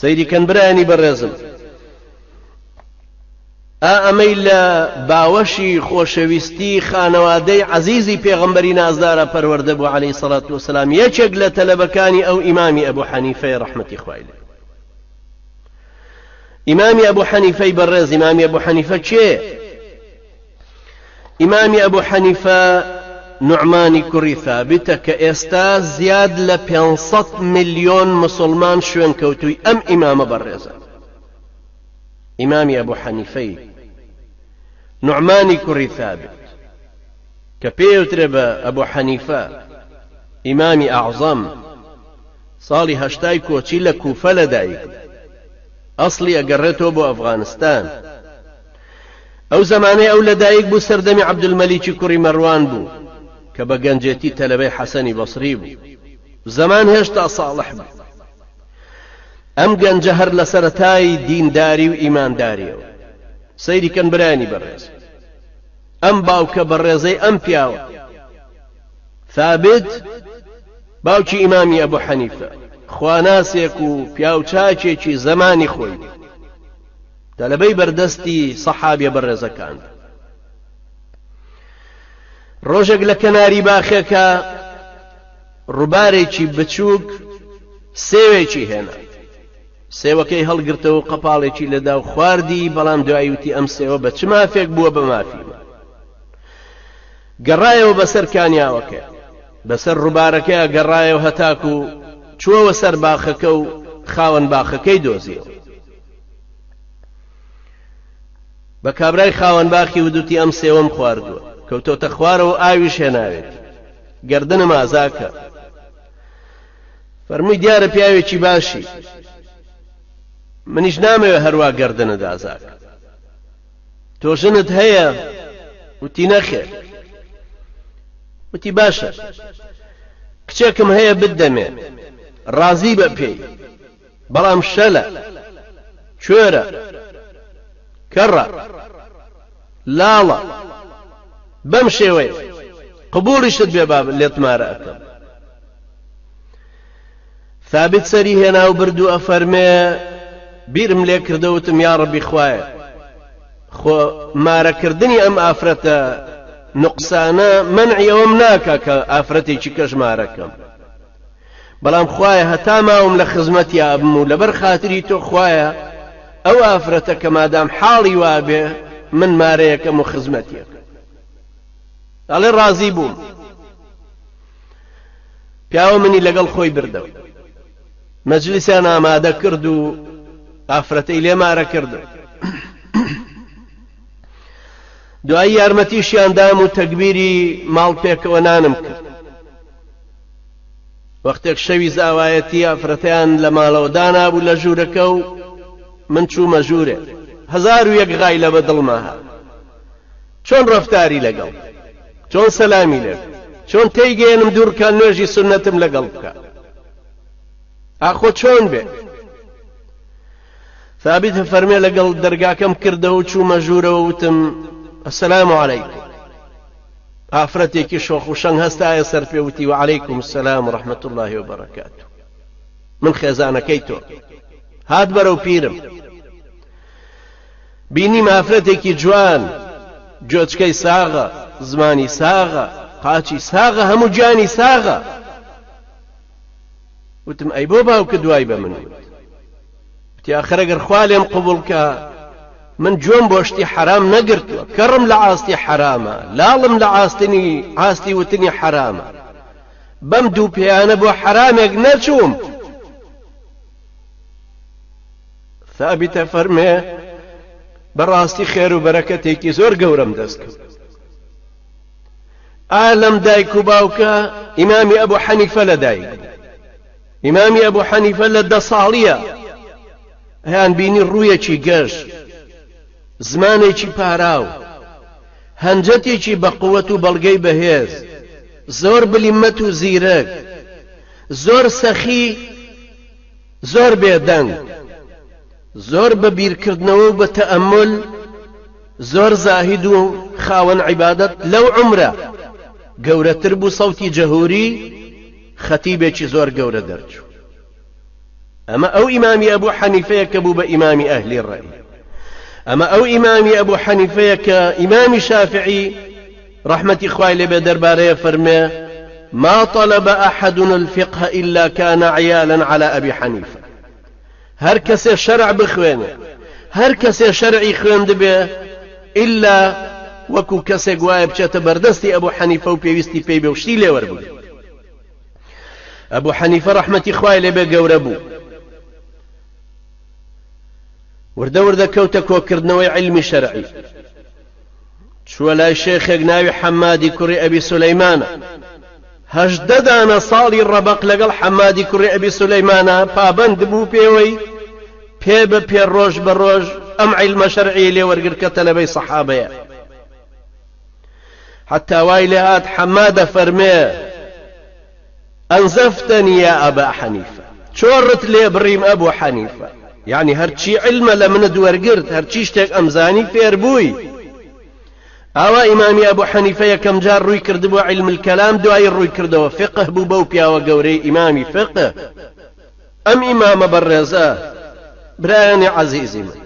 سەیری کەن برایانی بەڕێزم ئا ئەمەی لە باوەشی خۆشەویستی خانەوادەی عەزیزی پێغەمبەری نازدارا پەروەردە بوو عەلەیهی سەڵات وسەلام یەکێک لە تەلەبەکانی ئەو ئیمامی ئەبو حەنیفەیە ڕەحمەتی خوای لێ ئیمامی ئەبو حەنیفەی بەڕێز ئیمامی ئەبو حەنیفە کێ ئیمامی ئەبو حەنیفە نوعمانی کوڕی ثابتە کە ئێستا زیاد لە پێنج سەد ملیۆن مسوڵمان شوێنکەوتووی ئەم ئیمامە بەڕێزە ئیمامی ئەبو حەنیفەی نوعمانی کوڕی ثابت کە پێوترێ بە ئەبو حەنیفە ئیمامی ئەعزەم ساڵی هەشتای کۆچی لە کوفە لەدایک ئەسڵی ئەگەڕێتەوە بۆ ئەفغانستان ئەو زەمانەی ئەو لە دایک بوو سەردەمی عەبدولمەلیکی کوڕی مەروان بوو کە بە گەنجێتی تەلەبەی حەسەنی بەسری بوو. زەمان هێشتا ساڵح بوو. ئەم گەنجە هەر لە سەرەتای دینداری و ئیماندارییەوە. سەیری کەن برایانی بەڕێز. ئەم باوکە بەڕێزەی ئەم پیاوە. ثابت باوکی ئیمامی ئەبو حەنیفە خواناسێک و پیاوچاکێکی زەمانی خۆی بوو. تەلەبەی بەردەستی سەحابیە بەڕێزەکان ڕۆژێک لە کەناری باخێکە ڕووبارێکی بچووک سێوێکی هێنا سێوەکەی هەڵگرتەوە قەپاڵێکی لەدا و خواردی بەڵام دوایوتی ئەم سێوە بە چ مافێک بووە بە مافی من گەڕایەوە بەسەر کانیاوەکە بەسەر ڕووبارەکە گەڕایەوە هەتاکو چووەوە سەر باخەکە و خاوەن باخەکەی دۆزیەوە بە کابرای خاوەن باخی ودوتی ئەم سێوم خواردووە کەوتۆتە خوارەوە ئاویش هێناوێتی گردنم ئازاکە فەرمووی دیارە پیاوێکی باشی منیش نامەوێ هەروە گردنە دازاک تۆ ژنت هەیە وتی نەخێ وتی باشە کچێکم هەیە بدەمێ ڕازی بە پێی بەڵام شەلە، کوێرە، کەڕە، لاڵە، بەم شێوەیە، قبوڵیشت بێ با لێت مارە ئەکەم. ثابت سەری هێنا و برد و ئەفەرمێ، بیرم لێ کردە وتم یاڕەبی خوایە، خۆ مارەکردنی ئەم ئافرەتە نوقسانە مەنعی ئەوەم ناکا کە ئافرەتێکی کەش مارە کەم. بەڵام خوایە هەتا ماوم لە خزمەتی ئابم و لەبەر خاتری تۆ خوایە ئەو ئافرەتە کە مادام حاڵی وابێ من مارەیەکەم و خزمەتیەکەم ئەڵێ ڕازی بووم پیاوە منی لەگەڵ خۆی بردەوە مەجلیسیان ئامادە کرد و ئافرەتەی لێ مارە کردو دوایی یارمەتیشیان دام و تەگبیری ماڵ پێکەوە نانم کرد وەختێک شەوی زاوایەتی ئافرەتیان لە ماڵەوە دانابوو لە ژوورەکە و من چوومە ژوورێ هەزار و یەک غایلە بە دڵما هات چۆن ڕەفتاری لەگەڵ چۆن سەلامی لێ چۆن تێیگەێنم دوورکان نوێژی سنەتم لەگەڵ بکە ئاخۆ چۆن بێ ثابت فەرمێ لەگەڵ دەرگاکەم کردەوە و چوومە ژوورەوە وتم السلام عليكم ئافرەتێکی شۆخ و شەنگ هەستایە سەر پێ وتی وعلیکم السلام ورحمە اللە وبرکاتو من خێزانەکەی تۆم هات بەرەو پیرم بینیم ئافرەتێکی جوان گوێچکەی ساغە زمانی ساغە قاچی ساغە هەموو گیانی ساغە وتم ئەی بۆ باوکە دوای بە من وت وتی ئاخر ئەگەر خوا لێم قبوڵ کا من جۆم بۆ شتی حەرام نەگرتووە کەڕم لە ئاستی حەرامە لاڵم لە ئاستنی ئاستی وتنی حەرامە بەم دوو پێیانە بۆ حەرامێک نەچووم ثابتە فەرمێ بەڕاستی خێر و بەرەکەتێکی زۆر گەورەم دەست کرد ئالم دایک و باوکە ئیمامی ئەبوو حەنیفە لە دایک ئیمامی ئەبو حەنیفە لە دە ساڵییە ئەیان بینی ڕوویەکی گەش، زمانێکی پاراو، هەنجەتێکی بە قوت و بەڵگەی بەهێز، زۆر بلیمەت و زیرەک، زۆر سەخی، زۆر بێدەنگ، زۆر بە بیرکردنەوە و بە تەئەمول، زۆر زاهید و خاوەن عیبادەت، لەو عومرە گەورەتر بوو سەوتی جەهوری، خەتیبێکی زۆر گەورە دەرچوو. ئەمە ئەو ئیمامی ئەبو حەنیفەیە کە بوو بە ئیمامی ئەهلی ڕەئی. ئەمە ئەو ئیمامی ئەبو حەنیفەیە کە ئیمامی شافعی ڕەحمەتی خوای لێ بێ دەربارەی ئەفەرمێ، ما طلب احد الفقه الا كان عیالا علی ابی حنیفە. هەر کەسێ شەرع بخوێنێ هەر کەسێ شەرعی خوێندبێ ئیلا وەکو کەسێک وایە بچێتە بەردەستی ئەبوو حەنیفە و پێویستی پێی بێ و شتی لێ وەربگرێ ئەبوو حەنیفە ڕەحمەتی خوای لێ بێ گەورە بوو وردە وردە کەوتە کۆکردنەوەی علمی شەرعی چووە لای شێخێک ناوی حەمادی کوڕی ئەبی سولەیمانە هەژدە دانە ساڵی ڕەبەق لەگەڵ حەمادی کوڕی ئەبی سولەیمانە پابەند بوو پێوەی پێ بە پێ ڕۆژ بە ڕۆژ ئەم عیلمە شەرعی لێوەرگر کە تەلەبەی سەحابەیە حتا وای لێهات حەمادە فەرمێ انزفتنی یا ابا حنیفە، چۆڕت لێ بڕیم ابو حنیفە، یەعنی هەرچی علمە لە منت وەرگرت، هەرچی شتێک ئەمزانی فێربووی. ئاوا ئیمامی ابو حنیفە یەکەم جار ڕووی کردبووە علم الکلام دوایی ڕووی کردەوە فقه بوو بەو پیاوە گەورەی ئیمامی فقه. ئەم ئیمامە بەڕێزە برایانی عەزیزی من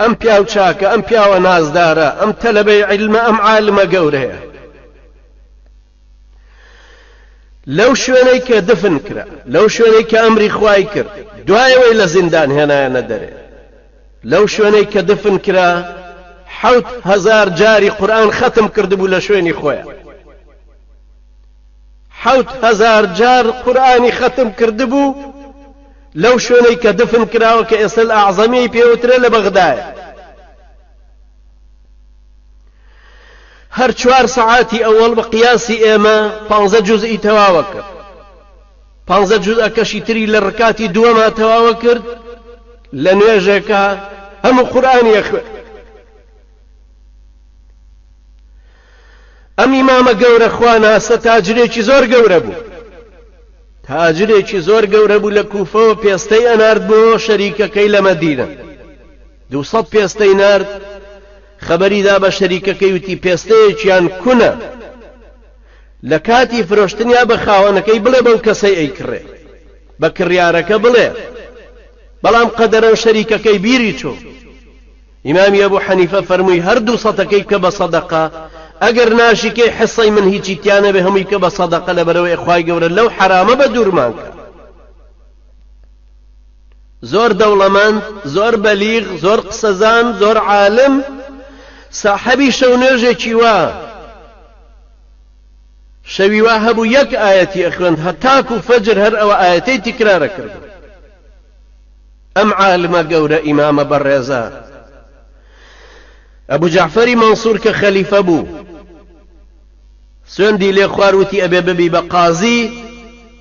ئەم پیاو چاکە ئەم پیاوە نازدارە ئەم تەلەبەی علمە ئەم عالمە گەورەیە. لەو شوێنەی کە دفن کرا، لەو شوێنەی کە ئەمری خوای کرد، دوای ئەوەی لە زیندان هێنایانە دەرێ، لەو شوێنەی کە دفن کرا، حەوت هەزار جاری قورئان خەتم کردبوو لە شوێنی خۆیا. حەوت هەزار جار قورئانی خەتم کردبوو لەو شوێنەی کە دفن کراوە کە ئێستا ئەعزەمیەی پێوترێ لە بەغدایە. هەر چوار سەعاتی ئەوەڵ بە قیاسی ئێمە پانزە جوزئی تەواوە کرد پانزە جوزەکەشی تری لە ڕکاتی دووەما تەواوە کرد لە نوێژێکە هەموو قورآانیە خوێ ئەم ئیمامە گەورە خواناسە تاجرێکی زۆر گەورە بوو تاجرێکی زۆر گەورە بوو لە کوفەوە پێستەی ئەنارد بۆ شەریکەکەی لە مەدینە دوو سەد پێستەی نارد، خەبەری دا بە شەریکەکەی وتی پێستەیەکیان کونە، لە کاتی فرۆشتنیا بە خاوەنەکەی بڵێ بەو کەسەی ئەیکڕێ، بە کڕیارەکە بڵێ، بەڵام قەدەرەن شەریکەکەی بیری چوو. ئیمامی ئەبوو حەنیفە فەرمووی هەر دوو سەدەکەی بکە بە سەدەقە، ئەگەر ناشیکەی حیصەی من هیچی تیا نەبێ هەمووی بکە بە سەدەقە لەبەرئەوەی خوای گەورە لەو حەرامە بەدوورمان کا. زۆر دەوڵەمەند، زۆر بەلیغ، زۆر قسەزان، زۆر عالم، ساحەبی شەونوێژێکی وا، شەوی وا هەبوو یەک ئایەتی ئەخوێند هەتاکو فەجر هەر ئەوە ئایەتەی تیکرار ئەکردن. ئەم عالمە گەورە ئیمامە بەڕێزە ئەبو جەعفەری مەنسور کە خەلیفە بوو، سوێندی لێ خوار وتی ئەبێ ببی بە قازی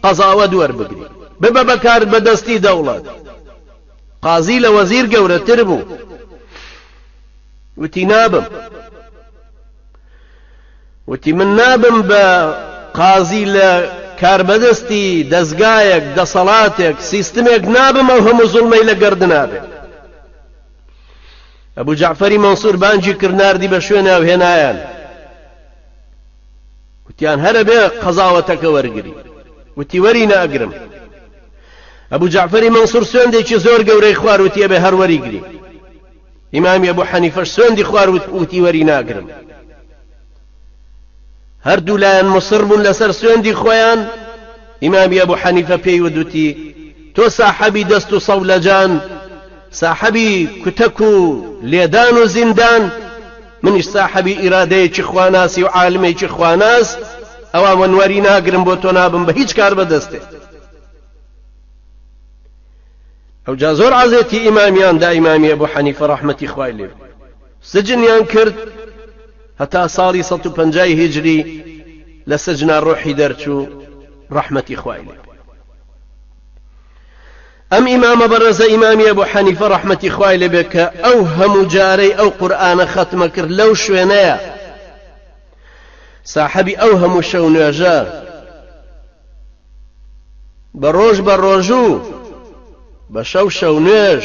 قەزاوەت وەربگری ببە بە کارد بە دەستی دەوڵەت قازی لە وەزیر گەورەتر بوو وتی نابم وتی من نابم بە قازی لە کاربەدەستی دەستگایەک دەسەڵاتێک سیستمێک نابم ئەو هەموو زوڵمەی لە گەردنابێت ئەبو جەعفەری مەنسور بانگی کرد ناردی بە شوێنێ و هێنایان وتیان هەرە بێ قەزاوەتەکە وەرگری وتی وەری ناگرم ئەبو جەعفەری مەنسور سوێندێکی زۆر گەورەی خوار وتی ئەبێ هەر وەریگری ئیمامی ئەبو حەنیفەش سوێندی خوار وتی وەری ناگرم هەردوو لایان مصر بوون لەسەر سوێندی خۆیان، ئیمامی ئەبو حەنیفە پێی ودوتی، تۆ ساحەبی دەست و سەولەجان، ساحەبی کوتەک و لێدان و زیندان، منیش ساحەبی ئیرادەیەکی خواناسی و عالمێکی خواناس، ئەوا من وەری ناگرم بۆ تۆ نابم بە هیچ کاربەدەستێک. ئەوجا زۆر عەزێتی ئیمامیان دا ئیمامی ئەبو حەنیفە ڕەحمەتی خوای لێ بێ سجنیان کرد، هەتا ساڵی سەد و پەنجای هیجری لە سجنا ڕۆحی دەرچوو ڕەحمەتی خوای لێ بێ ئەم ئیمامە بەڕێزە ئیمامی ئەبو حەنیفە ڕەحمەتی خوای لێ بێ کە ئەو هەموو جارەی ئەو قورئانە خەتمە کرد لەو شوێنەیە ساحەبی ئەو هەموو شەو نوێژە بە ڕۆژ بە ڕۆژو بە شەو شەو نوێژ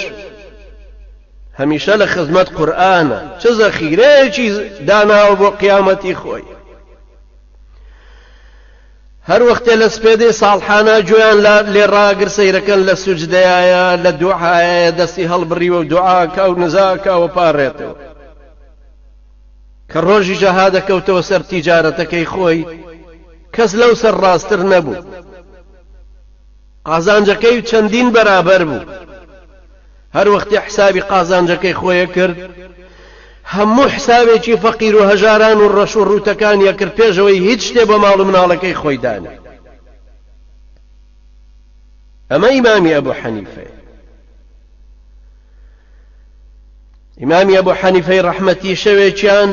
هەمیشە لە خزمەت قورئانە چ زەخیرەیەکی داناوە بۆ قیامەتی خۆی هەر وەختێ لە سپێدەی ساڵحانە گوێیان لێ ڕاگر سەیرەکەن لە سوجدەیە لە دوعاە دەستی هەڵبڕیوە و دوعاکە و نزاکە و پاڕێتەوە کە ڕۆژی جەهادە کەوتەوە سەر تیجارەتەکەی خۆی کەس لەو سەر ڕاستر نەبوو قازانجەکەی و چەندین بەرابەر بوو هەر وەختی حسابی قازانجەکەی خۆیە کرد هەموو حسابێکی فەقیر و هەژاران و ڕەش و ڕووتەکان یەکرد پێشەوەی هیچ شتێ بە ماڵ و مناڵەکەی خۆی دانێ ئەمە ئیمامی ئەبوو حەنیفەیە ئیمامی ئەبو حەنیفەی ڕەحمەتی شەوێکیان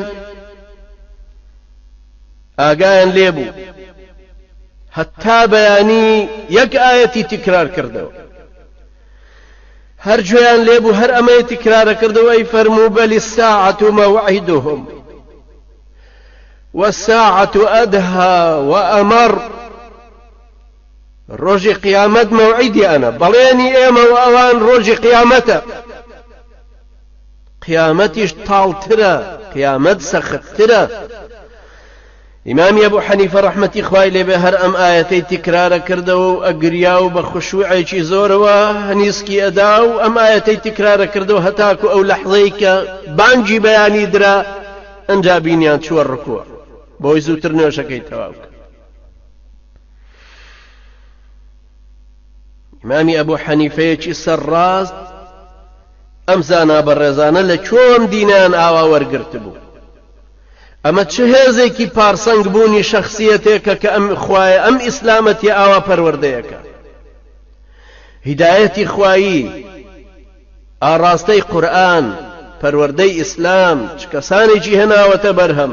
ئاگایان لێبوو هەتا بەیانی یەک ئاەتی تکرار کردەوە هەر گوێیان لێبوو هەر ئەمەی تکرارە کردەوە ئەی فەرموو بەلی ساعەت و مەوعیدهم والساعة أدهى وأمر ڕۆژی قیامەت مەوعیدیانە، بەڵێنی ئێمە و ئەوان ڕۆژی قیامەتە. قیامەتیش تاڵترە، قیامەت سەختترە. ئیمامی ئەبو حەنیفە ڕەحمەتی خوای لێبێ هەر ئەم ئایەتەی تکرارە کردەوە و ئەگریا و بە خشوعێکی زۆرەوە هەنیسکی ئەدا و ئەم ئایەتەی تکرارە کردەوە هەتاکو ئەو لەحزەی کە بانگی بەیانی درا ئەنجا بینیان چووە ڕکوع بۆی زووتر نوێژەکەی تەواو کرد. ئیمامی ئەبوو حەنیفەیەکی سەرڕاست ئەم زانا بەڕێزانە لە چۆن دینیان ئاوا وەرگرت بوو ئەمە چه هێزێکی پارسەنگ بوونی شخصیەتێکە کە ئەم خوایە ئەم ئیسلامەتی ئاوا پەروەردەیەەکە هیدایەتی خوایی ئاڕاستەی قورآن پەروەردەی ئیسلام چ کەسانێکی هێناوەتە بەرهەم